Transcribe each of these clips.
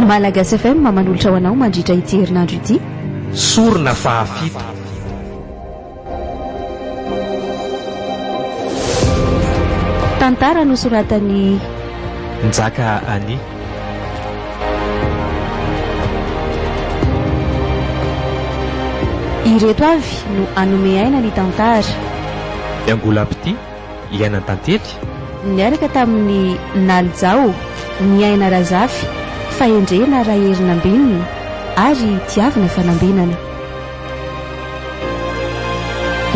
Malagasy FM manolotra ho anao mandritra ity herinandro ity. Sorona fahafito. Tantara nosoratan'i Njaka Annie. Ireto avy no hanome aina ny tantara. Miangolam-pitia, hiainan-tantely. Niaraka tamin'i Naly Jao, Niaina Razafy, Fahendrena Raherinambinina ary Tiavina Fanambinana.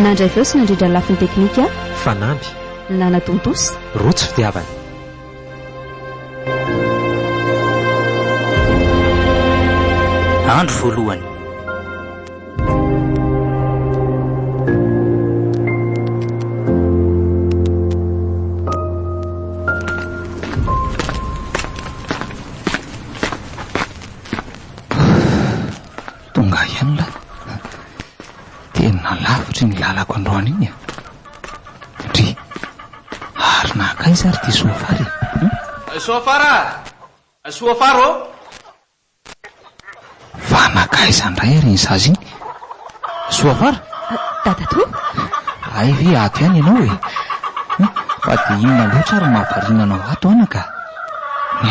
Nandray feo sy nandrindra ny lafiny teknika. Fanamby. Nanatontosa. Rojo fitiavana. Andro voalohany. Tonga ihany lahy a! Tena lavitry ny lalako androany iny a! Ndry! Ary nankaiza ary ity soafara e? Hum? Soafara a! Soafara ô! Fa nankaiza indray ary iny zaza iny? Soafara? Dadatoa? Hay ve ato ihany ianao e? Hum? Fa dia inona loatra ary no mahavariana anao ato anaka?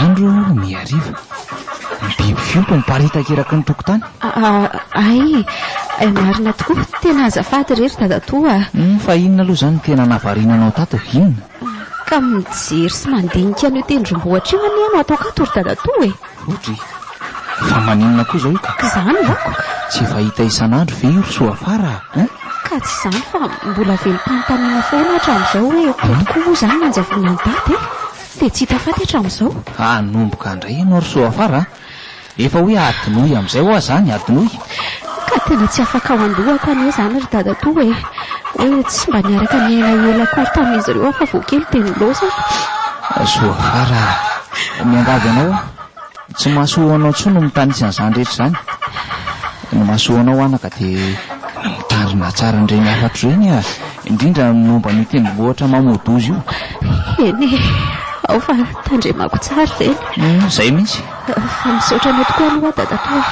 Andro ny hariva. Ny biby fiompy miparitaka eraky ny tokotany. Aii, marina tokoa. Tena azafady re ry dadatoa a! Humm, fa inona aloha izany no tena nahavariana anao tato? Inona? Ka mijery sy mandinika an'io tendrombohitra io anie no ataoko ato ry dadatoa e! Odry, fa maninona koa izao io ka? K'izany manko ka! Tsy efa hita isan'andro ve io ry Soafara a? Hein? Ka tsy izany fa mbola velom-panontaniana foana aho hatramin'izao hoe, tokoa moa izany no nanjavonan'i dada e? Dia tsy hita faty hatramin'izao. Hanomboka indray ianao ry Soafara a! Efa hoe adinoy amin'izay hoa izany, adinoy. Ka tena tsy afakao an-dohako anie izany ry dadatoa e! Hoe tsy mba niaraka niaina ela akory tamin'izy ireo aho fa vao kely dia nilaozako. Soafara a! Miangavy anao aho. Tsy mahasoa anao intsony ny mitanisa an'izany rehetra izany. Ny mahasoa anao anaka dia mitandrina tsara an'ireny hafatra ireny e, indrindra ny momba an'io tendrombohitra Mamoudouze io. Eny e, ao fa tandremako tsara ireny. Humm, izay mihitsy. Fa misaotra anao tokoa aloha dadatoa e,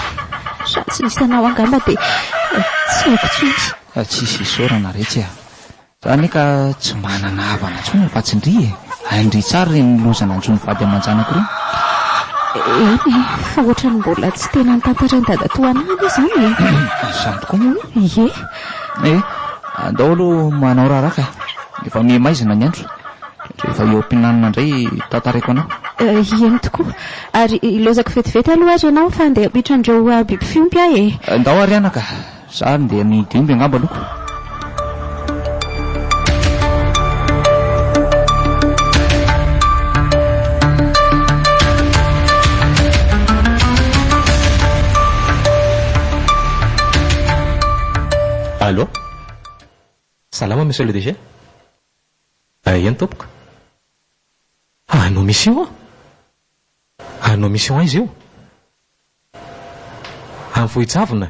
raha tsy nisy anao angamba dia tsy haiko intsony. Tsisy isaorana retsy a. Za anie ka tsy manana havana intsony afa tsy ndry e! Hay ndry tsara ireny loza nanjo ny vady aman-janako ireny. Eny e, fa ohatran'ny mbola tsy tena notantarin'i dadatoa anay aloha izany e! Izany tokoa moa e! Ie! Ee, andao aloha manao raharaha ka! Efa miha-maizina ny andro. Rehefa eo am-pihinanana indray tantaraiko anao. Eny tokoa! Ary hilaozako vetivety aloha ary ianao fa handeha hampiditra an'ireo biby fiompy aho e! Ndao ary anaka! Za ary ndeha amin'ny dimy angamba aloha. Allo? Salama Monsieur le DG? Aia ny tompoko? Anao misy eo an? Hanao mission aiza eo? Any Vohijavona?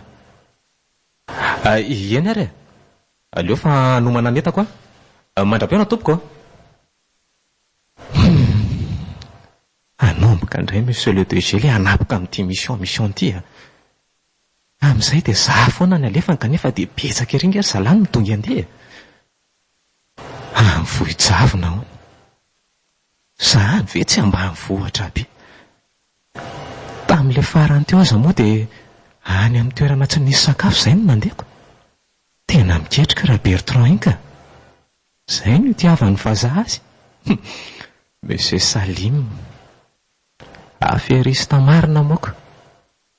Ahy eny ary e! Aleo fa hanomana ny entako aho. Mandra-pihaona tompoko a! Humm! Hanomboka indray Monsieur le DG le hanapoka amin'ity mission mission ity a! Amin'izay dia za foana ny alefany kanefa dia betsaka ery nge ry zalahy no midongy andeha e! Any Vohijavona hono! Zany ve tsy ambanivohitra aby. Tamin'ilay farany teo aza moa dia any amin'ny toerana tsy nisy sakafo izay no nandeko. Tena miketrika ra Bertrand iny ka. Izay no itiavan'ny vazaha azy. Hum. Monsieur Salim. Aferista marina moa ka.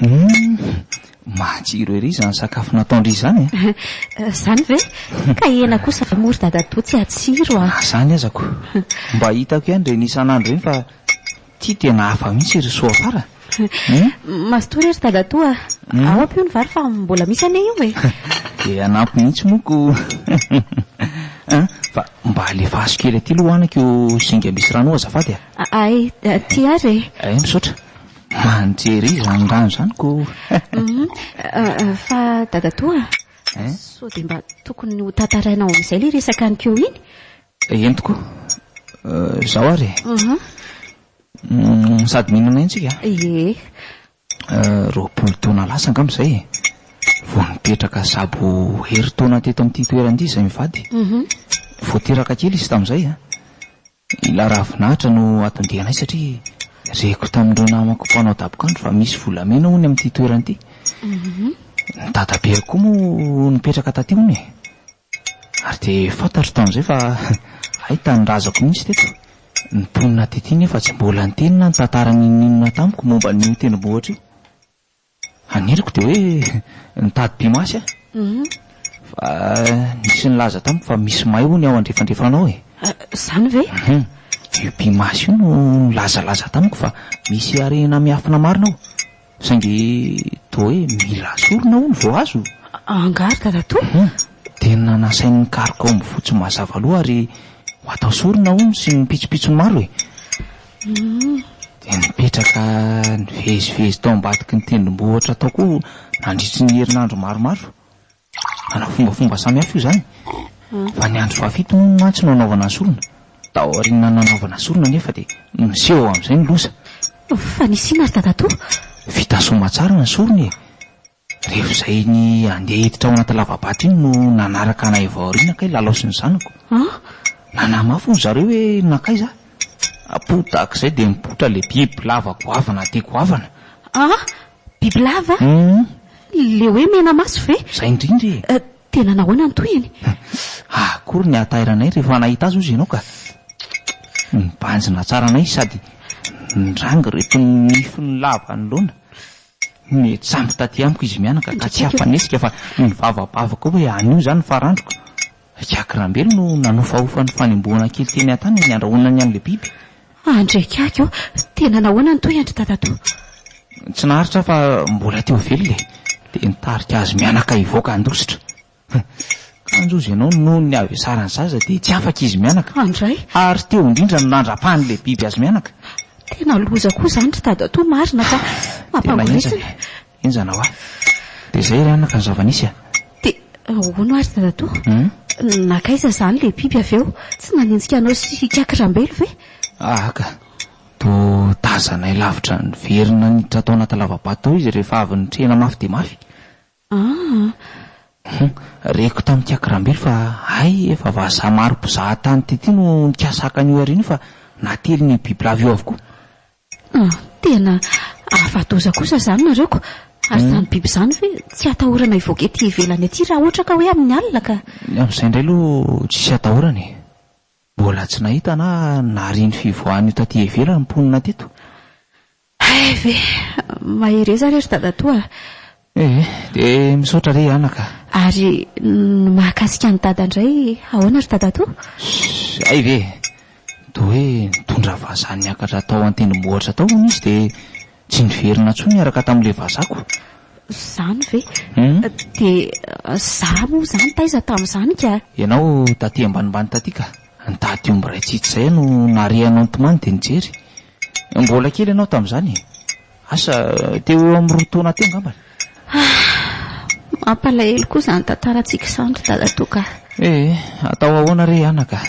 Humm! Matsiro ery izany sakafo nataon-dry izany e! Izany ve? Ka hena kosa ve moa ry dadatoa tsy hatsiro a! Izany aza ko! Mba hitako ihany ireny isan'andro ireny fa ity tena hafa mihitsy ry soa fara e! Mazotoa re ry dadatoa a! Ao ampio ny vary fa mbola misy anie io e! Dia hanampy mihitsy moa ko! Hum! Fa mba alefaso kely aty aloha hohaniko io zinga misy rano io azafady a! Hay, tia ary e! Hay, misaotra! Mba nijery izy izany rano izany koh! Fa dadatoa a! Sao dia mba tokony ho tantarainao amin'izay ilay resaka an'i Kyo iny? Eny tokoa. Izao ary e! Sady mino anay isika a! Ie! Roapolo taona lasa angamba izay e! Vao nipetraka sabo herintaona teto amin'ity toerana ity izahay mivady. Vao teraka kely izy tamin'izay a! Ilay ravinahitra no atondiany ahy satria reko tamin'ireo namako mpanao dabokandro fa misy volamena hono amin'ity toerana ity. Ny dadabeako koa moa nipetraka taty hono e. Ary dia fantatro tamin'izay fa hay tanindrazako mihitsy teto. Ny mponina taty nefa tsy mbola niteny na nitantara n'inon'inona tamiko momba an'io tendrombohitra io. Haniriko dia hoe nitady pimasy aho fa nisy nilaza tamiko fa misy may hono ao andrefandrefana ao e! Izany ve? Io pimasy io no nilazalaza tamiko fa misy harena miafina marina ao, saingy toa hoe mila sorona hono vao azo. Angaha ry dadatoa? Tena nasainy nikaroka ao amin'ny vohitsy mazava loha ary ho atao sorona hono sy ny pitsopitsony maro e! dia nipetraka nivezivezy tao ambadiky ny tendrombohitra tao koa nandritry ny herinandro maromaro. Manao fombafomba samihafa io izany, fa ny andro fahafito moa mantsy no anaovana ny sorona. Tao aoriana nanaovana sorona anefa dia niseho amin'izay ny loza. Fa nisy inona ry dadatoa? Vita soamatsara ny sorona e! Rehefa izay ny handeha hiditra ao anaty lava-bato iny no nanaraka anay avy ao aoriana kay Lalao sy ny zanako. Nanamafy hono zareo hoe nankaiza aho. Apoho tahaka izay dia mipoitra ilay bibilava goavana dia goavana. Ah! Bibilava? Humm. Ilay hoe mena maso ve? Izay indrindra e! Tena nahoana ny tohiny? Ah, akory ny hahatairanay rehefa nahita azy hozy ianao ka! Nibanjina tsara anay sady niranga ireto nifiny lava anoloana. Nijambo taty amiko izy mianaka ka tsy afa-nihetsika fa nivavabavaka hoe anio izany ny farandroko. I Jack Rambelo no nanofahofa ny fanembohana kely teny an-tanany ny andrahonany an'ilay biby. Andry Jack ô! Tena nahoana ny toy an-dry Dadatoa? Tsy naharitra aho fa mbola teo velona e! Dia nitarika azy mianaka hivoaka handositra. Kanjo hozy ianao, noho ny havesarany zaza dia tsy afaka izy mianaka. Handray. Ary teo indrindra no nandrapahan'ilay biby azy mianaka. Tena loza koa izany ry dadatoa marina fa mampangoritsina e. Henjana hoa. Dia izay ry anaka ny zava-nisy a. Dia ahoana ary dadatoa? Nankaiza izany ilay biby avy eo? Tsy nanenjika anao sy hikaky rambelo ve? Aah ka. Toa tazanay lavitra niverina niditra tao anaty lava-bato tao izy rehefa avy nitrehina mafy dia mafy. Aa! Hum! Reko tamin'i Kiakirambilo fa hay efa vazaha maro mpizaha tany teto no nikasa haka an'io hariana io fa natelin' io bibilava io avokoa. Aa! Tena afa-doza kosa izany nareo ko! Ary izany biby izany ve tsy atahorana hivoaka ety ivelany ety raha ohatra ka hoe amin'ny alina ka? Ny amin'izay indray aloha tsisy atahorana e! Mbola tsy nahita na nahare ny fivoahan'io taty ivelany ny mponina teto. Hay ve! Mahereza re ry dadatoa a! Ee, dia misaotra re anaka. Ary ny mahakasika an'i dada indray ahoana ry dadatoa? Shh! Hay ve! Toa hoe nitondra vazaha niakatra tao an-tendrombohitra tao hono izy dia tsy niverina intsony niaraka tamin'ilay vazako. Izany ve! Hum! Dia izaho moa izany taiza tamin'izany ka? Ianao taty ambanimbany taty ka! Nitady omby iray tsitsy izay aho no nare hanao ny tomany dia nijery. Mbola kely ianao tamin'izany e! Asa, teo ho eo amin'ny roa taona teo angamba. Ah! Mampalahelo koa izany tantarantsika izany ry dadatoa ka! Eh! Atao ahoana re anaka?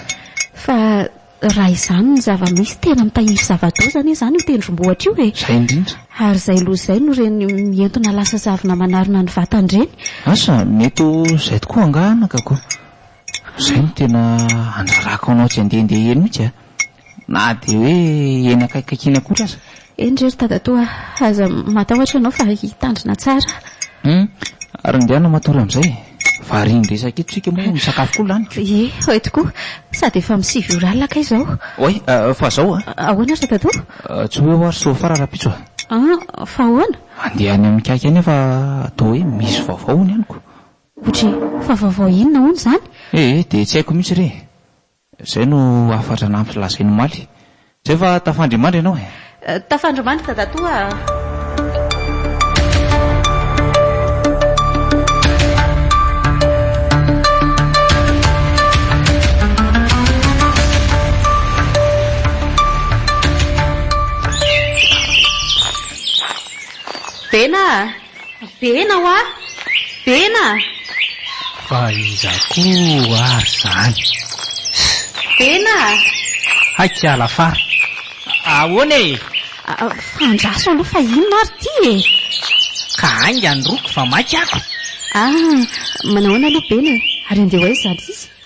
Fa raha izany no zava-misy, tena mitahiry zava-doza anie izany io tendrombohitra io e! Izay indrindra! Ary izay loza izay no ireny mientona lasa zavona manarona ny vatany ireny. Asa, mety ho izay tokoa angaha anakako? Izay no tena handrarako anao tsy handehandeha eny mihitsy a! Na dia hoe eny akaikikaikiana koa aza. Eny re ry dadatoa a! Aza matahotra ianao fa hitandrina tsara a! Hum! Ary indehana matory amin'izay e! Variana resaka eto isika moa misakafo koa laniko. Ie, eto koa! Sady efa amin'ny sivy ora alina kay izao. Oay! Fa izao a! Ahoana ry dadatoa? Tsy ho eo aho ry soafara rahampitso a! An! Fa ahoana? Andeha any amin'ny kaiky any aho fa toa hoe misy vaovao hono henoko. Ohatry fa vaovao inona hono izany? Eh eh, dia tsy haiko mihitsy re e! Izay no hafatra nampilazainy omaly. Izay fa tafandry mandry ianao e! Tafandry mandry dadatoa a! Bena a! Bena hoa! Bena! Fa iza koa ary zany? Bena! Hay kiala fa ahoana e? Fandraso aloha fa inona ary ity e? Ka haingany roko fa maika ako. Ah, manahoana aloha Bena e? Ary andeha ho aiza ary izy?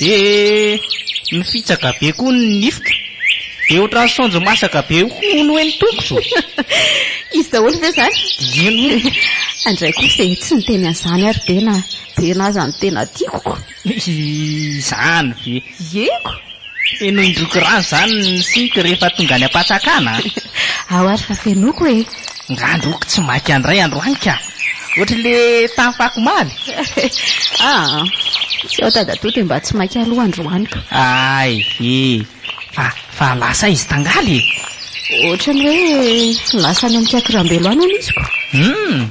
Dia nifitsaka be koa ny nifiko. Dia ohatran'ny saonjo masaka be hono hoe ny tongotro. Izy daholo ve izany? Eny hono. Andray koa ve tsy niteny an'izany ary Bena? Bena aza no tena tiako ko. Izany ve? Yeko. Fenoin-droko rano izany ny siko rehefa tonga any am-pantsakana a! Ao ary fa fenoiko e! Ngandroko tsy maika handray androany ka! Ohatry le tany fako omaly! Aa! Tsy ao dadatoa dia mba tsy maika aloha androany ka! Ay e! Fa fa lasa aiza tangaly e! Ohatry ny hoe lasa any amin'ny kiakiram-belo any aho misy ko! Hum!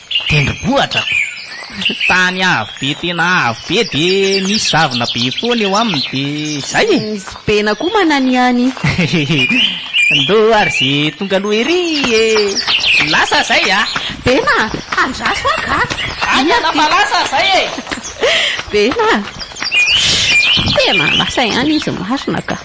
Tendrombohitra? Tany avo be tena avo be dia misy zavona be foana eo aminy dia izay e! Misy bena koa mananihany. Ndô ary ze tonga aloha ery e! Lasa zay a! Bena, handraso aho ka! Any ana fa lasa zay e! Bena, tena lasa ihany izy marina ka!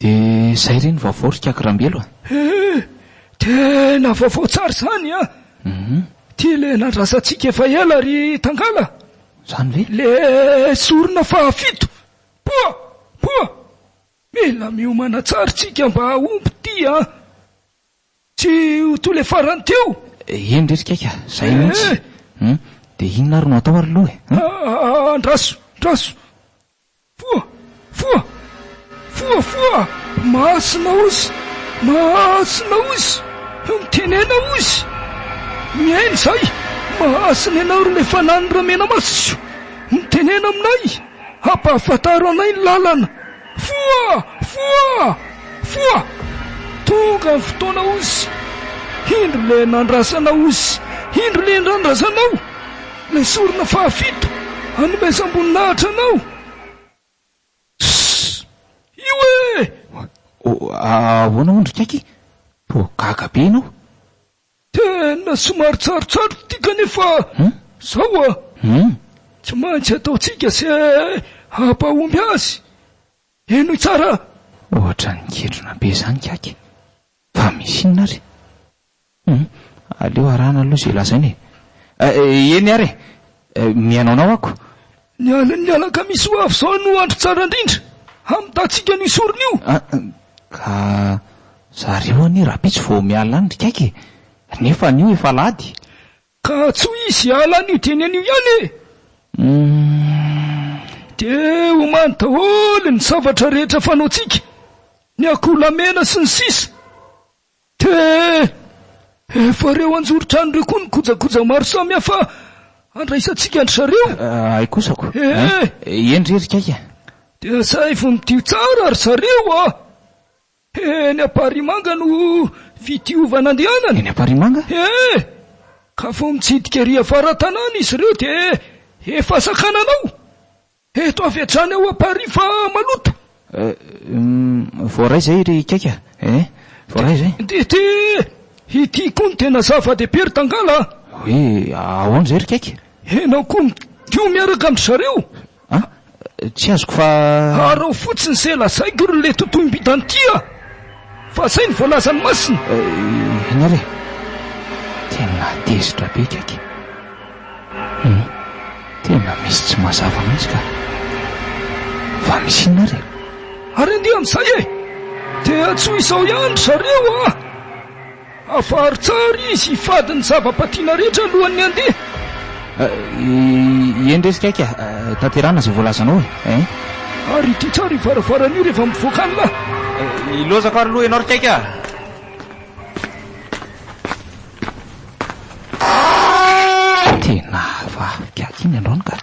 De zay re ny vaovao ry Kaka Rambelo a! Eh! Tena vaovao tsara izany an! Ity le nandrasantsika efa ela ry Tangala! Zany ve? Le sorona fahafito! Poa! Poa! Mila miomana tsara tsika mba hahomby ity an! Tsy ho toy le farany teo! Eny re ry Kaka! Zay mihitsy! Hum! De inona ary no atao ary lo e! Andraso! Andraso! Foa! Foa! Foa! Foa! Masina ozy! Masina ozy! Mitenena ozy! Mihaino izahay! Masina ianao ry ilay Fanahiny Ramenamaso! Mitenena aminay! Ampahafantaro anay ny lalana! Foa! Foa! Foa! Tonga ny fotoana ozy! Indro ilay nandrasana ozy! Indro ilay nandrazanao! Ilay sorona fahafito hanomezam-boninahitra anao. Sss! Io eh! Ahoana hono ry Kaiky? Toa gaga be ianao? Tena somary tsarotsaroko ity kanefa zao a! Tsy maintsy ataontsika ze hampahomby azy. Henoy tsara a! Ohatran'ny kendrona be zany Kaiky. Fa misy inona ary? Humm, aleo arahana aloha izay lazaina e! Eh, eny ary e! Mihaino anao ako. Ny alin'ny alakamisy ho avy izao no andro tsara indrindra hamintantsika an'io sorona io. Ah, ka zareo anie rahampitso vao miala any ry kaiky e! Nefa anio efa alahady. Ka tsy ho izy hiala anio dieny anio ihany e! Humm. Dia omany daholo ny zavatra rehetra fanaontsika, ny akoholahy mena sy ny sisa. Tee! Efa reo anjoron-trano reo koa ny kojakoja maro samy hafa handraisantsika an-dry zareo? Hay kosa ko! Eh! Eny re ry kaika! Dia asaivo midio tsara ry zareo a! Eny Amparimanga no fidiova nandehanana. Eny Amparimanga? Eh! Ka vao mitsidika ery afara tanàna izy reo dia efa sakanana ao! Eto avy hatrany ao à Paris fa maloto. Euh. Voaray izay ry Kaiky a. Eh. Voaray izay. DT, ity koa no tena zava dehibe ry Tangala a. Hoe ahoana izay ry Kaiky? Enao koa midio miaraka amin-dry zareo. An? Tsy azoko fa. Araho fotsiny izay lazaiko ry le totohim-bitan'ity a. Fa izay no voalazan'ny Masina. Ianareo e! Tena tezitra be kaiky e! Tena misy tsy mazava mihitsy ka! Fa misy inona ary e? Ary andian'izay e! Dia tsy ho izao ihany ry zareo a! Afaro tsara izy hifady ny zava-patiana rehetra alohan'ny handeha. Eny re ry Kaika, tanterahana izay voalazanao e. Ary ity tsara io varavarana io rehefa mivoaka any lahy. Hilozako ary aloha ianao ry Kaika a. Tena hafa ahy ry Kaky iny androany ka.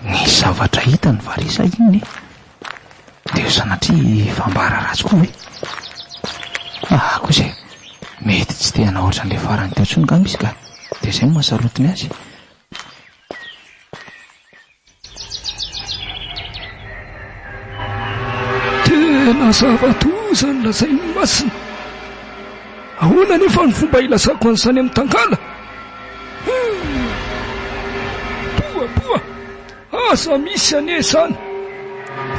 Misy zavatra hitany va re sa inona e? Dia sanatria fambara ratsy koa ve? Aa kosa e! Mety tsy te hanao ohatran'ilay farany teo intsony angamba izy ka dia izay no maha sarotiny azy. Tena zava-doza ny lazain'i Masina. Ahoana anefa ny fomba hilazako an'i Sane Mitangala? Poa poa! Aza misy anie izany!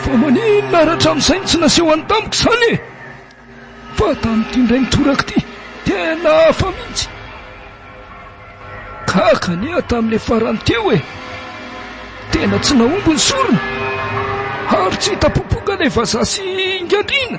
Fa maninona ary hatramin'izay no tsy nasehony tamiko izany e? Fa tamin'ity indray mitoraka ity tena hafa mihitsy! Gaga anie aho tamin'ilay farany teo e! Tena tsy nahomby ny sorona ary tsy hita popoka ilay vazaha sy Ingadriana!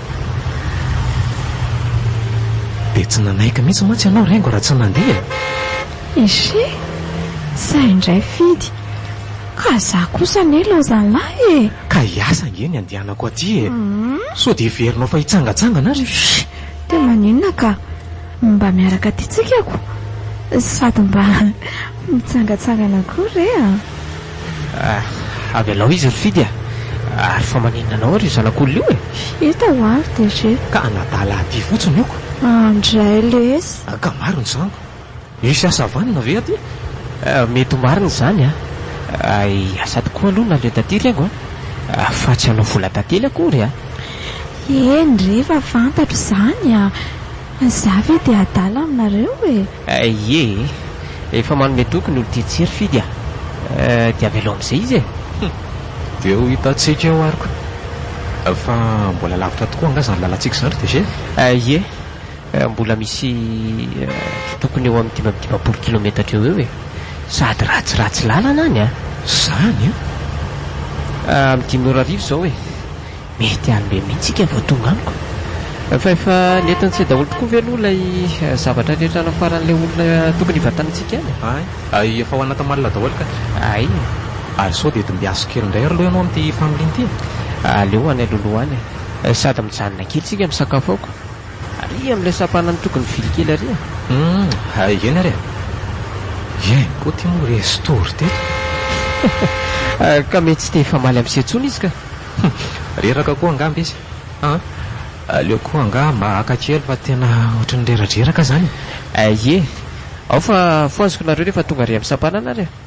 Dia tsy nanaiky mihitsy mantsy ianao Rengo raha tsy nandeha e! Echee! Zay indray Fidy! Ka za kosa anie laozalahy e! Ka hiasa ange ny andehanako aty e! Sao dia heverinao fa hitsangatsangana ary? Shh! Dia maninona ka? Mba miaraka aty tsikako sady mba mitsangatsangana koa re a! Ah, avelao izy ry Fidy a! Ary fa maninona anao ary io zanak'olona io e? Hita ho avy DG. Ka anadala aty fotsiny io ko! Andray lesy! Ka maro ny zanako! Hisy asa vanona ve aty? Mety ho marina izany a! Asa tokoa aloha naleo taty ry haingo a! Fa tsy hanao vola tantely akory a! Eny re, efa fantatro izany a! Fa za ve dia adala aminareo e! Aie e! Efa manome toky ny olon-tia tsy ry fidy a! Dia avelao amin'izay izy e! Hum! Dia ho hitantsika eo ary ko! Fa mbola lavitra tokoa angaha izany lalantsika izany ry DG e! Aie! Mbola misy tokony eo amin'ny dimy amby dimampolo kilometatra eo eo e! Sady ratsiratsy lalana any a! Izany a! Amin'ny dimy ora hariva izao e! Mety any be mihitsy ika vao tonga amiko. Fa efa nentin-tsy daholo tokoa ve aloha ilay zavatra rehetra nafaran'ilay olona tokony hivantana antsika any? Hay. Hay efa ho any Antamalona daholo kay. Hay e. Ary sao dia dimbiaso kely indray ary lo ianao amin'ity familiana ity e. Aleo any alohaloha any e. Sady mijanona kely isika misakafo aoka. Ary amin'ilay sampanan'ny tokony vily kely ary e. Hum, hay eny ary e. Eny koa ity moa resto ry teto. Ka mety tsy te hifamaly amin'ise intsony izy ka. Hum! Reraka koa angamba izy an! Aleo koa angaha mba haka kely fa tena ohatry ny reradreraka izany e! Eh ye! Ao fa fohaziko nareo rehefa tonga ary amin'ny sampanana ary e!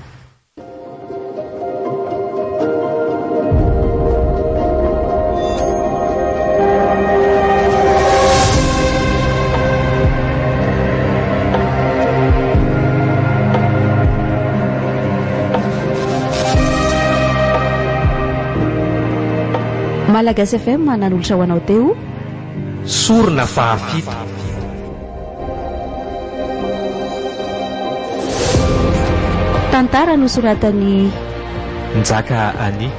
Malagasy FM nanolotra ho anao teo. Sorona fahafito. Tantara nosoratan'i Njaka Annie.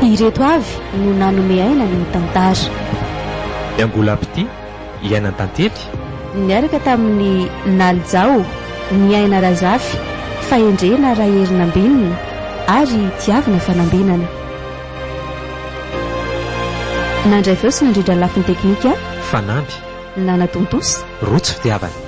Ireto avy no nanome aina ny tantara. Ny angolam-pitia. iaina an-tantely? Niaraka tamin'i Naly Jao, Niaina Razafy, Fahendrena Raherinambinina ary Tiavina Fanambinana. Nandray feo sy nandrindra ny lafiny teknika. Fanamby. Nanatontosa. Rotsy Fitiavana.